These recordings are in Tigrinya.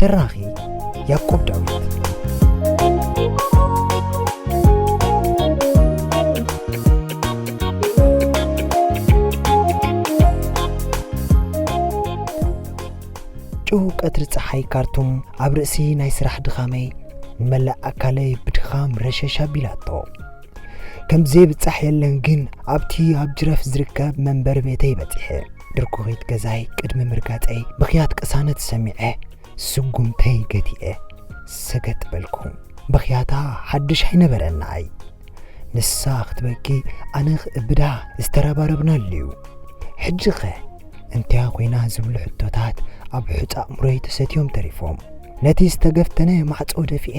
ተራኺ ያቆብ ዳዊት ጭው ቀትሪ ፀሓይ ካርቱም ኣብ ርእሲ ናይ ስራሕ ድኻመይ ንመላእ ኣካለይ ብድኻም ረሸሽ ኣቢላቶ ከምዘይብፃሕ የለን ግን ኣብቲ ኣብ ጅረፍ ዝርከብ መንበሪ ቤተይ በፂሐ ድርኩኺት ገዛይ ቅድሚ ምርጋጸይ ብኽያት ቅሳነት ሰሚዐ ስጉምተይ ገቲኤ ሰገጥ በልኩ። ብኽያታ ሓድሽ ኣይነበረን ንኣይ። ንሳ ክትበኪ ኣነ ክእብዳ ዝተረባረብናሉ'ዩ። ሕጂ'ኸ እንቲያ ኮይና ዝብሉ ሕቶታት ኣብ ሑጻ ኣእምሮይ ተሰትዮም ተሪፎም። ነቲ ዝተገፍተነ ማዕጾ ደፊኤ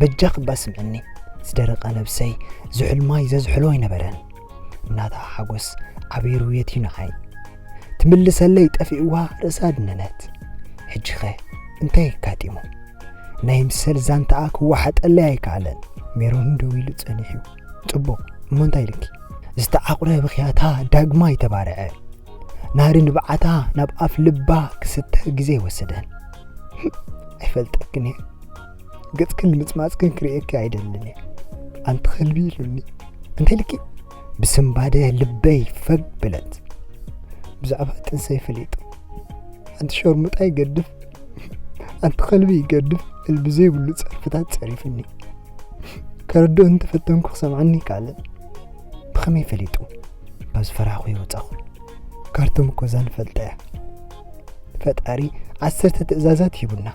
በጃ ክባ ስምዕኒ ዝደረቐ ነብሰይ ዝሑል ማይ ዘዝሕሎ ኣይነበረን እናታ ሓጎስ ዓቢሩ የትዩ ንዓይ ትምልሰለይ ጠፊእዋ ርእሳ ድነነት ሕጂኸ እንታይ ኣጋጢሙ ናይ ምሰል ዛንታኣ ክወሓጠለይ ኣይከኣለን ሜሮን ደው ኢሉ ጸኒሑ ጽቡቕ እሞ እንታይ ኢልኪ ዝተዓቑረ ብኽያታ ዳግማ ይተባርዐ ናሪ ንብዓታ ናብ ኣፍ ልባ ክስተ ግዜ ወሰደን ኣይፈልጠክን እየ ገጽክን ንምጽማጽክን ክርእየኪ ኣይደልን እየ ኣንቲ ከልቢ ኢሉኒ እንተልኪ ብስምባደ ልበይ ፈግ ብለት ብዛዕባ ጥንሰይ ፈሊጡ ኣንቲ ሸርሙጣ ይገድፍ ኣንቲ ከልቢ ይገድፍ እልቢ ዘይብሉ ጸርፍታት ጸሪፍኒ ከረድኦ እንተፈተንኩ ክሰምዓኒ ካልእ ብኸመይ ፈሊጡ ካብ ዝፈራኹ ይወጻኹ ካርቶም እኮ እዛ ንፈልጠ እያ ፈጣሪ ዓሰርተ ትእዛዛት ሂቡና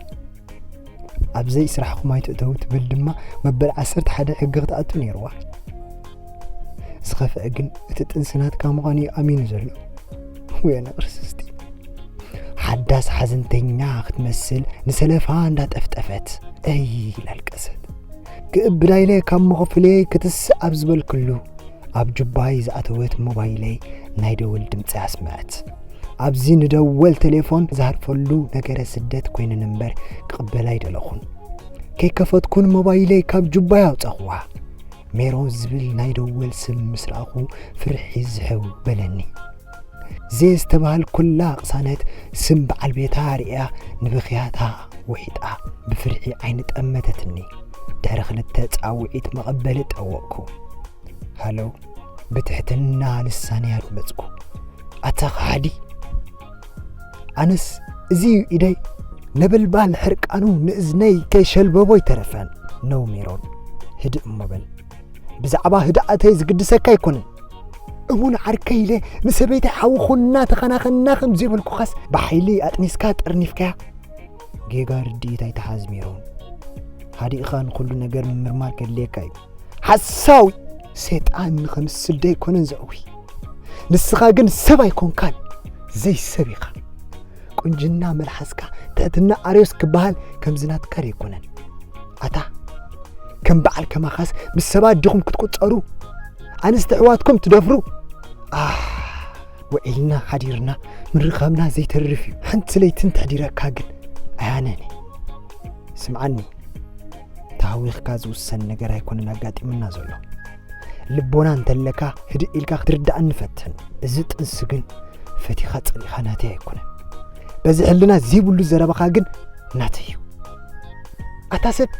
ኣብ ዘይ ስራሕኹም ኣይትእተው ትብል ድማ መበል ዓሰርተ ሓደ ሕጊ ክትኣቱ ነይርዋ ዝኸፍአ ግን እቲ ጥንሲ ናትካ ምዃኑ እዩ ኣሚኑ ዘሎ ወየነ ክርስስቲ ሓዳስ ሓዘንተኛ ክትመስል ንሰለፋ እንዳጠፍጠፈት እይ ላልቀሰት ክእብዳ ኢለ ካብ መኸፍለይ ክትስእ ኣብ ዝበልክሉ ኣብ ጁባይ ዝኣተወት ሞባይለይ ናይ ደወል ድምፂ ኣስምዐት ኣብዚ ንደወል ቴሌፎን ዝሃርፈሉ ነገረ ስደት ኮይንን እምበር ክቕበል ኣይደለኹን ከይከፈትኩን ሞባይለይ ካብ ጁባይ ኣውፀኹዋ ሜሮን ዝብል ናይ ደወል ስም ምስ ረኣኹ ፍርሒ ዝሕው በለኒ ዜ ዝተባህል ኩላ ቅሳነት ስም በዓል ቤታ ርእያ ንብኽያታ ውሒጣ ብፍርሒ ዓይኒ ጠመተትኒ ድሕሪ ክልተ ፃውዒት መቐበሊ ጠወቕኩ ሃሎ ብትሕትና ልሳነ ኣድመፅኩ ኣታ ኸሓዲ ኣነስ እዚ ኢደይ ነበልባል ሕርቃኑ ንእዝነይ ከይሸልበቦ ይተረፈን ነው ሜሮን ህድእ እሞ በል ብዛዕባ ህድኣተይ ዝግድሰካ ኣይኮነን እሙን ዓርከይ ኢለ ንሰበይተይ ሓዊ ኹና ተኸናኸና ከም ዘይበልኩኻስ ብሓይሊ ኣጥኒስካ ጠርኒፍካያ ጌጋ ርድኢት ኣይትሓዝ ሜሮን ሃዲእኻ ንኩሉ ነገር ምምርማር ከድልየካ እዩ ሓሳዊ ሰይጣን ንኸምስል ደይኮነን ዘዕዊ ንስኻ ግን ሰብ ኣይኮንካን ዘይሰብ ኢኻ ቁንጅና መልሓስካ ትሕትና ኣርዮስ ክበሃል ከምዚ ናትካ ደይኮነን ኣታ ከም በዓል ከማኻስ ምስ ሰባት ዲኹም ክትቁፀሩ ኣንስቲ ኣሕዋትኩም ትደፍሩ ኣህ ውዒልና ሓዲርና ምርኻብና ዘይተርፍ እዩ ሓንቲ ለይቲ እንተሕዲረካ ግን ኣያነኒ ስምዓኒ ተሃዊኽካ ዝውሰን ነገር ኣይኮነን ኣጋጢሙና ዘሎ ልቦና እንተለካ ህድእ ኢልካ ክትርዳእ ንፈትን እዚ ጥንሲ ግን ፈቲኻ ጸሊኻ ናተይ ኣይኮነን በዚ ሕልና ዘይብሉ ዘረባኻ ግን ናተይ እዩ ኣታ ሰብ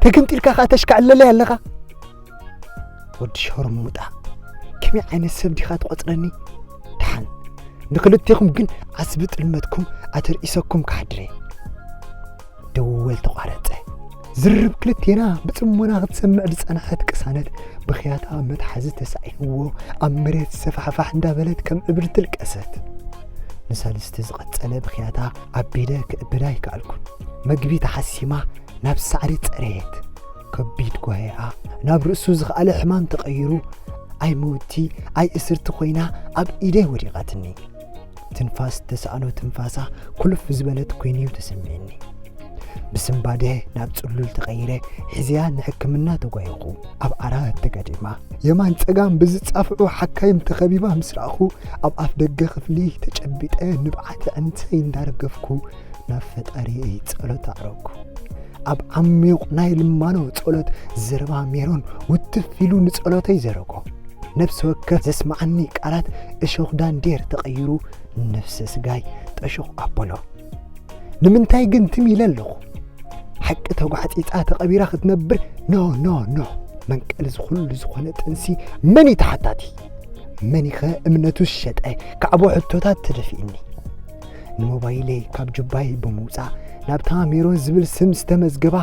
ተገምጢልካ ከዓ ተሽካዕለለይ ኣለኻ ወዲ ሸርሙጣ ከመይ ዓይነት ሰብ ዲኻ ትቆጽረኒ ድሓን ንክልቴኹም ግን ዓስቢ ጥልመትኩም ኣተርኢሰኩም ካሕድረ ደወል ተቋረጸ ዝርብ ክልቴና ብጽሞና ክትሰምዕ ዝጸንሐት ቅሳነት ብኽያታ መትሓዚ ተሳኢንዎ ኣብ መሬት ሰፋሕፋሕ እንዳበለት ከም እብሪ ትልቀሰት ንሰልስቲ ዝቐጸለ ብኽያታ ኣቢለ ክእብዳ ይከኣልኩን መግቢ ተሓሲማ ናብ ሳዕሪ ጸረየት ከቢድ ጓሄኣ ናብ ርእሱ ዝኸኣለ ሕማም ተቐይሩ ኣይ መውቲ ኣይ እስርቲ ኮይና ኣብ ኢደይ ወዲቓትኒ ትንፋስ ተሰኣኖ ትንፋሳ ኩልፍ ዝበለት ኮይኑ እዩ ተሰሚዕኒ ብስምባደ ናብ ጽሉል ተቐይረ ሕዝያ ንሕክምና ተጓየኹ ኣብ ዓራት ተጋዲማ የማን ጸጋም ብዝጻፍዑ ሓካይም ተኸቢባ ምስ ረኣኹ ኣብ ኣፍ ደገ ክፍሊ ተጨቢጠ ንብዓት ዕንተይ እንዳረገፍኩ ናብ ፈጣሪየይ ጸሎት ኣዕረግኩ። ኣብ ዓሚዩቕ ናይ ልማኖ ጸሎት ዘረባ ሜሮን ውትፍ ኢሉ ንጸሎተይ ዘረጎ። ነብሲ ወከፍ ዘስምዓኒ ቃላት እሾኽ ዳንዴር ተቐይሩ ነፍሰ ስጋይ ጠሹኽ ኣበሎ። ንምንታይ ግን ትም ኢለ ኣለኹ? ሓቂ ተጓዕጺጻ ተቐቢራ ክትነብር ኖ ኖ ኖ መንቀሊ ዝኹሉ ዝኾነ ጥንሲ መን እዩ ተሓታቲ? መን ይኸ እምነቱ ዝሸጠ ካዕቦ ሕቶታት ተደፊእኒ። ንሞባይለይ ካብ ጁባይ ብምውፃእ ናብታ ሜሮን ዝብል ስም ዝተመዝገባ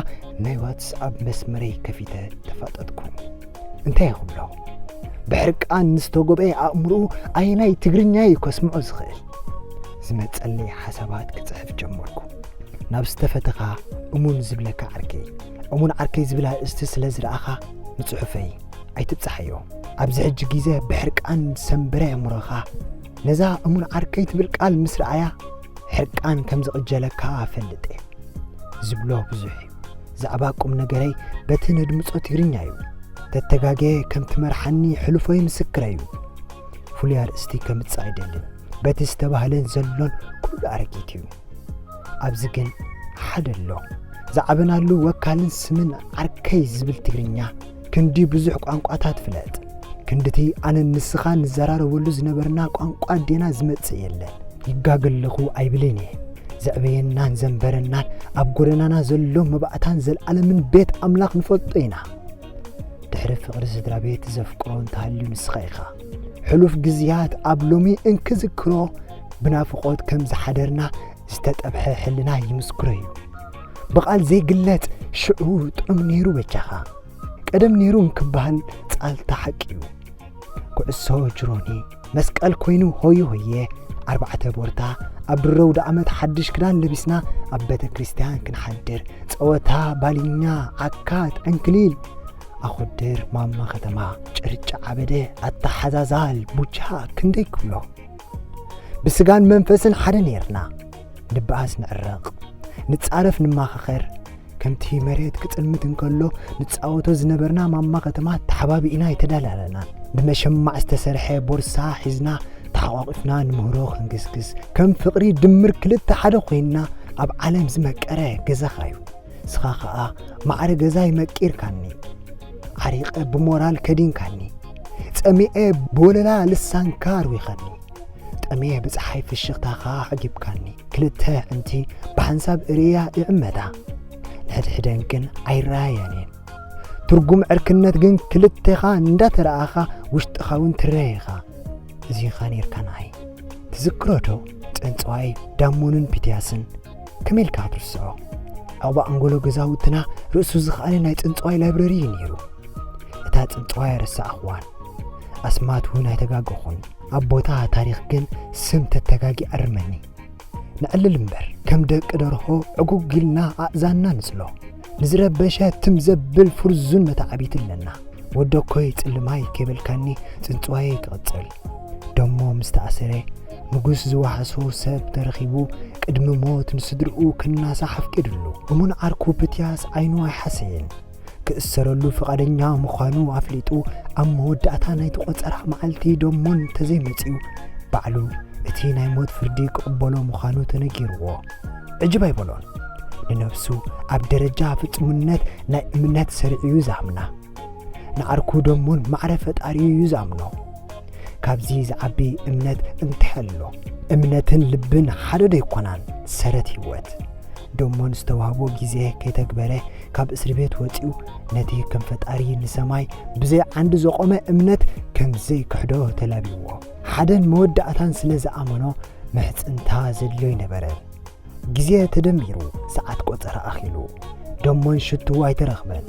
ናይ ዋትስኣፕ መስመረይ ከፊተ ተፋጠጥኩ እንታይ ይኽብሎ ብሕርቃን ንዝተጎበኤ ኣእምርኡ ኣየናይ ትግርኛ እዩ ከስምዖ ዝኽእል ዝመፀለይ ሓሳባት ክፅሕፍ ጀመርኩ ናብ ዝተፈተኻ እሙን ዝብለካ ዓርከይ እሙን ዓርከይ ዝብላ እስቲ ስለ ዝረኣኻ ንፅሑፈይ ኣይትብፃሓዮ ኣብዚ ሕጂ ግዜ ብሕርቃን ሰንበረ ኣእምሮኻ ነዛ እሙን ዓርከይ ትብል ቃል ምስ ረኣያ ሕርቃን ከም ዝቕጀለካ እፈልጥ እየ። ዝብሎ ብዙሕ እዩ። ዛዕባ ቁም ነገረይ በቲ ነድምጾ ትግርኛ እዩ። ተተጋጌ ከም ትመርሓኒ ሕሉፎይ ምስክረ እዩ። ፍሉይ ኣርእስቲ ከምጽእ ኣይደልን። በቲ ዝተባህለን ዘሎን ኩሉ ኣረጊት እዩ። ኣብዚ ግን ሓደ ኣሎ። ዝዓበናሉ ወካልን ስምን ዓርከይ ዝብል ትግርኛ ክንዲ ብዙሕ ቋንቋታት ፍለጥ፣ ክንድቲ ኣነን ንስኻን ንዘራረበሉ ዝነበርና ቋንቋ ዴና ዝመጽእ የለን። ይጋገ ኣለኹ ኣይብልን እየ። ዘዕበየናን ዘንበረናን ኣብ ጎደናና ዘሎ መባእታን ዘልኣለምን ቤት ኣምላኽ ንፈልጦ ኢና። ድሕሪ ፍቕሪ ስድራ ቤት ዘፍቅሮ እንተሃልዩ ንስኻ ኢኻ። ሕሉፍ ግዝያት ኣብ ሎሚ እንክዝክሮ ብናፍቖት ከም ዝሓደርና ዝተጠብሐ ሕልና ይምስክሮ እዩ። ብቓል ዘይግለጽ ሽዑ ጥዑም ነይሩ በጃኻ ቀደም ነይሩ እንክበሃል ጻልታ ሓቂ እዩ ኩዕሶ ጅሮኒ መስቀል ኮይኑ ሆየ ሆየ ኣርባዕተ ቦርታ ኣብ ድሮ ውደ ዓመት ሓድሽ ክዳን ለቢስና ኣብ ቤተ ክርስቲያን ክንሓድር ጸወታ ባልኛ ዓካት ዕንክሊል ኣኹድር ማማ ከተማ ጭርጫ ዓበደ ኣተሓዛዛል ቡቻ ክንደይ ክብሎ ብስጋን መንፈስን ሓደ ነይርና ንበኣስ ንዕረቕ፣ ንጻረፍ ንማኻኸር፣ ከምቲ መሬት ክጽልምት እንከሎ ንጻወቶ ዝነበርና ማማ ከተማ ተሓባቢእና የተዳላለና፣ ብመሸማዕ ዝተሰርሐ ቦርሳ ሒዝና ተሓቋቊፍና ንምህሮ ክንግስግስ፣ ከም ፍቕሪ ድምር ክልተ ሓደ ኮይንና ኣብ ዓለም ዝመቀረ ገዛኻ እዩ። ንስኻ ኸኣ ማዕረ ገዛይ መቂርካኒ፣ ዓሪቐ ብሞራል ከዲንካኒ፣ ጸሚኤ ብወለላ ልሳንካ ኣርዊኸኒ፣ ጠምየ ብጸሓይ ፍሽኽታኻ ኣዕጊብካኒ፣ ክልተ ኣዕንቲ ብሓንሳብ እርእያ ይዕመታ፣ ንሕድሕደን ግን ኣይረኣያን እየን፣ ትርጉም ዕርክነት ግን ክልቴኻ እንዳተረኣኻ ውሽጥኻውን ትረእ ኢኻ፣ እዚ ኢኻ ኔርካ ንዓይ፣ ትዝክሮዶ ጸንጽዋይ ዳሞንን ፒትያስን፣ ከመይ ኢልካ ክትርስዖ ኣብኡ ኣንጎሎ ገዛውትና ርእሱ ዝኸኣለ ናይ ፅንፅዋይ ላይብረሪ እዩ ነይሩ እታ ፅንፅዋይ ኣረሳዕኽዋን ኣስማት እውን ኣይተጋገኹን ኣብ ቦታ ታሪኽ ግን ስም ተተጋጊ ኣርመኒ ንዕልል እምበር ከም ደቂ ደርሆ ዕጉግ ኢልና ኣእዛንና ንፅሎ ንዝረበሸ ትም ዘብል ፍርዙን መታዕቢቲ ኣለና ወደኮይ ጽልማይ ከይበልካኒ ጽንጽዋየይ ክቕጽል ደሞ ምስ ተኣሰረ ንጉስ ዝዋሕሶ ሰብ ተረኺቡ ቅድሚ ሞት ንስድርኡ ክናሳሕ ኣፍቂድሉ እሙን ዓርኩ ፕትያስ ዓይኑ ኣይሓሰየን ክእሰረሉ ፍቓደኛ ምዃኑ ኣፍሊጡ ኣብ መወዳእታ ናይቲ ቆጸራ መዓልቲ ደሞ እንተዘይመጺኡ ባዕሉ እቲ ናይ ሞት ፍርዲ ክቕበሎ ምዃኑ ተነጊርዎ ዕጅብ ኣይበሎን ንነብሱ ኣብ ደረጃ ፍጹምነት ናይ እምነት ሰሪዑ እዩ ዝኣምና ንዓርኩ ደሙን ማዕረ ፈጣሪ እዩ ዝኣምኖ ካብዚ ዝዓቢ እምነት እንተሐሎ እምነትን ልብን ሓደ ዶ ኣይኮናን ሰረት ህይወት ደሞን ዝተዋህቦ ግዜ ከይተግበረ ካብ እስሪ ቤት ወፂኡ ነቲ ከም ፈጣሪ ንሰማይ ብዘይ ዓንዲ ዘቆመ እምነት ከምዘይ ክሕዶ ተላቢዎ ሓደን መወዳእታን ስለ ዝኣመኖ ምሕጽንታ ዘድልዮ ኣይነበረን። ግዜ ተደሚሩ ሰዓት ቆጸራ ኣኺሉ ደሞን ሽቱ ኣይተረኽበን።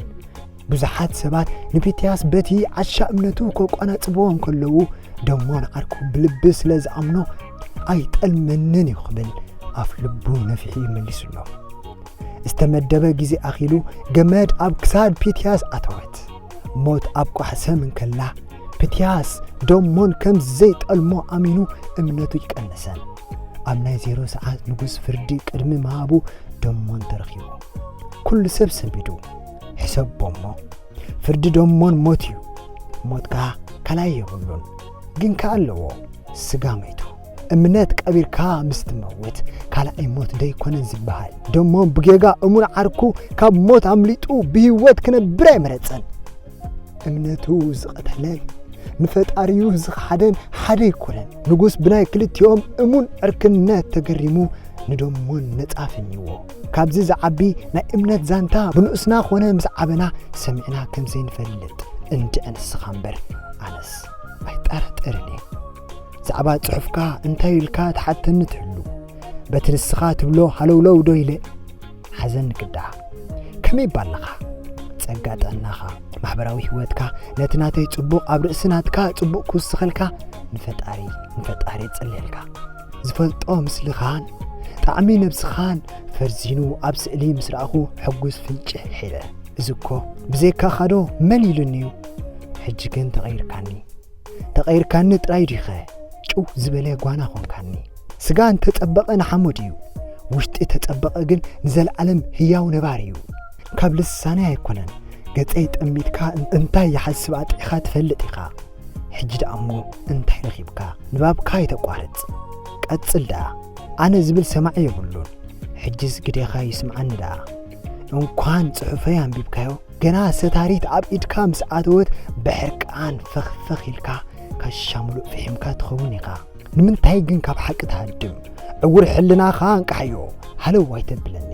ብዙሓት ሰባት ንፊትያስ በቲ ዓሻ እምነቱ ከቋናጽብዎ እንከለዉ ደሞ ንዓርኩ ብልቢ ስለ ዝኣምኖ ኣይጠልመንን እዩ ክብል ኣፍ ልቡ ነፊሑ ይመሊሱሎ። ዝተመደበ ግዜ ኣኺሉ ገመድ ኣብ ክሳድ ፊትያስ ኣተወት። ሞት ኣብ ቋሕ ሰም እንከላ ፕትያስ ደሞን ከም ዘይጠልሞ ኣሚኑ እምነቱ ይቀነሰ ኣብ ናይ ዜሮ ሰዓት ንጉስ ፍርዲ ቅድሚ ምሃቡ ደሞን ተረኺቡ ኩሉ ሰብ ሰቢዱ ሕሰቦ እሞ ፍርዲ ደሞን ሞት እዩ ሞት ከዓ ካልኣይ የብሉን ግን ከ ኣለዎ ስጋ መይቱ እምነት ቀቢርካ ምስ ትመውት ካልኣይ ሞት ደይኮነን ዝበሃል ደሞ ብጌጋ እሙን ዓርኩ ካብ ሞት ኣምሊጡ ብህይወት ክነብር ኣይመረጸን እምነቱ ዝቐተለን ንፈጣሪኡ ዝኸሓደን ሓደ ኣይኮነን ንጉስ ብናይ ክልቲኦም እሙን ዕርክነት ተገሪሙ ንደሞን ነጻ ፈኝዎ ካብዚ ዝዓቢ ናይ እምነት ዛንታ ብንኡስና ኮነ ምስ ዓበና ሰሚዕና ከም ዘይንፈልጥ እንድዐ ንስኻ እምበር ኣነስ ኣይጠራጠርን እየ ዛዕባ ጽሑፍካ እንታይ ኢልካ ትሓተኒ ትህሉ በቲ ንስኻ ትብሎ ሃለውለው ዶ ኢለ ሓዘን ክዳኣ ከመይ ባለኻ ጸጋ ጥዕናኻ ማሕበራዊ ህይወትካ ነቲ ናተይ ጽቡቕ ኣብ ርእሲ ናትካ ጽቡቕ ክውስኸልካ ንፈጣሪ ንፈጣሪ ጽልየልካ ዝፈልጦ ምስልኻን ጣዕሚ ነብስኻን ፈርዚኑ ኣብ ስእሊ ምስ ረኣኹ ሕጉስ ፍንጭ ሒረ እዚ እኮ ብዘይካኻዶ መን ኢሉኒ እዩ ሕጂ ግን ተቐይርካኒ ተቐይርካኒ ጥራይ ዲኸ ጭው ዝበለ ጓና ኾንካኒ። ስጋ እንተ ጸበቐ ንሓሞት እዩ፣ ውሽጢ ተጸበቐ ግን ንዘለዓለም ህያው ነባሪ እዩ። ካብ ልሳነይ ኣይኮነን ገጸይ ጠሚትካ እንታይ ይሓስብ ኣጥዒኻ ትፈልጥ ኢኻ። ሕጂ ደኣ እሞ እንታይ ረኺብካ ንባብካ ኣይተቋርጽ ቀጽል ደኣ። ኣነ ዝብል ሰማዒ የብሉን ሕጂስ ግደኻ ይስምዓኒ ደኣ። እንኳን ፅሑፈይ ኣንቢብካዮ ገና ሰታሪት ኣብ ኢድካ ምስ ኣተወት ብሕርቃን ፈኽፈኽ ኢልካ ካሻ ሙሉእ ፍሒምካ ትኸውን ኢኻ ንምንታይ ግን ካብ ሓቂ ትሃድም ዕውር ሕልናኻ እንቃሓዮ ሃለው ኣይተብለኒ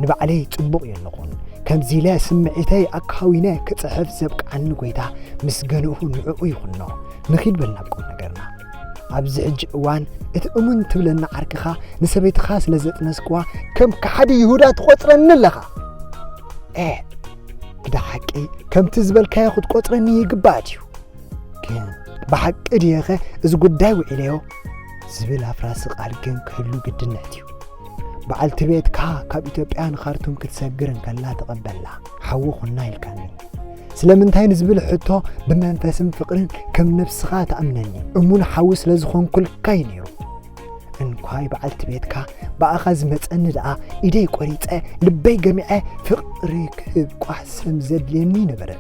ንባዕለይ ጽቡቕ የለኹን ከምዚ ኢለ ስምዒተይ ኣካዊነ ክጽሕፍ ዘብቃዓኒ ጎይታ ምስ ገንኡ ንዕኡ ይኹኖ ንኺድ በልና ቁም ነገርና ኣብዚ ሕጂ እዋን እቲ እሙን ትብለኒ ዓርክኻ ንሰበይትኻ ስለ ዘጥነስክዋ ከም ከሓዲ ይሁዳ ትቖጽረኒ ኣለኻ ኤ ግዳ ሓቂ ከምቲ ዝበልካዮ ክትቆጽረኒ ይግባእ እዩ ግን ብሓቂ ድየኸ እዚ ጉዳይ ውዒለዮ ዝብል ኣፍራሲ ቃል ግን ክህሉ ግድነት እዩ በዓልቲ ቤትካ ካብ ኢትዮጵያ ንኻርቱም ክትሰግር እንከላ ተቐበላ ሓዊ ኹና ኢልካኒ ስለምንታይ ንዝብል ሕቶ ብመንፈስን ፍቕርን ከም ነብስኻ ትኣምነኒ እሙን ሓዊ ስለ ዝኾንኩልካ እዩ ነይሩ እንኳይ በዓልቲ ቤትካ ብኣኻ ዝመፀኒ ደኣ ኢደይ ቆሪፀ ልበይ ገሚዐ ፍቕሪ ክህብ ቋሕሰም ዘድልየኒ ነበረ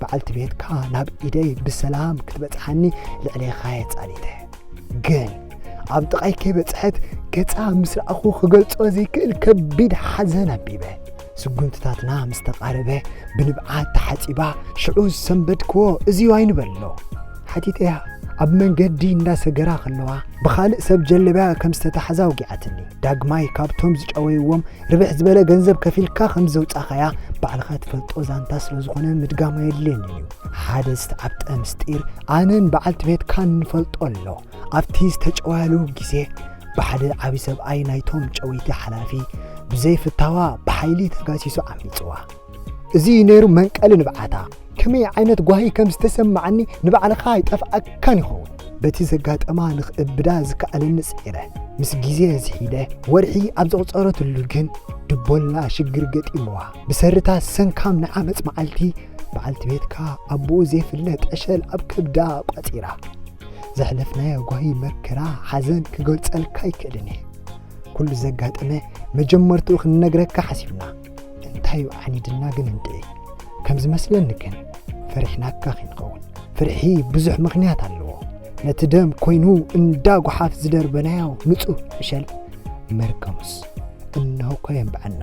በዓልቲ ቤትካ ናብ ኢደይ ብሰላም ክትበፅሓኒ ልዕሌኻ የፃሊተ ግን ኣብ ጥቓይ ከይበጽሐት ገጻ ምስ ረኣኹ ክገልጾ ዘይክእል ከቢድ ሓዘን ኣቢበ ስጉምትታትና ምስ ተቓረበ ብንብዓት ተሓጺባ ሽዑ ዝሰንበድክዎ እዚዩ ኣይንበሎ ሓቲተያ ኣብ መንገዲ እንዳሰገራ ከለዋ ብኻልእ ሰብ ጀለብያ ከም ዝተታሕዛ ውጊዓትኒ ዳግማይ ካብቶም ዝጨወይዎም ርብሕ ዝበለ ገንዘብ ከፊልካ ከም ዘውፃኻያ ባዕልኻ ትፈልጦ ዛንታ ስለ ዝኾነ ምድጋማ የድልየኒ እዩ ሓደ ዝተዓብጠ ምስጢር ኣነን በዓልቲ ቤትካን ንፈልጦ ኣሎ ኣብቲ ዝተጨወያሉ ግዜ ብሓደ ዓቢ ሰብኣይ ናይቶም ጨወይቲ ሓላፊ ብዘይ ፍታዋ ብሓይሊ ተጋሲሱ ዓሚጽዋ። እዚ እዩ ነይሩ መንቀሊ ንብዓታ። ከመይ ዓይነት ጓሂ ከም ዝተሰማዓኒ ንባዕልኻ ኣይጠፍኣካን ይኸውን። በቲ ዘጋጠማ ንኽእብዳ ዝከኣለኒ ጽዒረ። ምስ ግዜ ዝሒደ ወርሒ ኣብ ዘቑጸረትሉ ግን ድቦላ ሽግር ገጢምዋ። ብሰሪታ ሰንካም ናይ ዓመጽ መዓልቲ በዓልቲ ቤትካ ኣቦኡ ዘይፍለጥ ዕሸል ኣብ ከብዳ ቋጺራ። ዘሕለፍናዮ ጓሂ መከራ ሓዘን ክገልጸልካ ኣይክእልን እየ ኩሉ ዘጋጠመ መጀመርትኡ ክንነግረካ ሓሲብና እንታይ ዓኒድና ግን እንድዒ ከም ዝመስለኒ ግን ፈሪሕናካ ክንኸውን ፍርሒ ብዙሕ ምኽንያት ኣለዎ ነቲ ደም ኮይኑ እንዳ ጓሓፍ ዝደርበናዮ ንጹህ ዕሸል መርገሙስ እናውኮ የንብዐና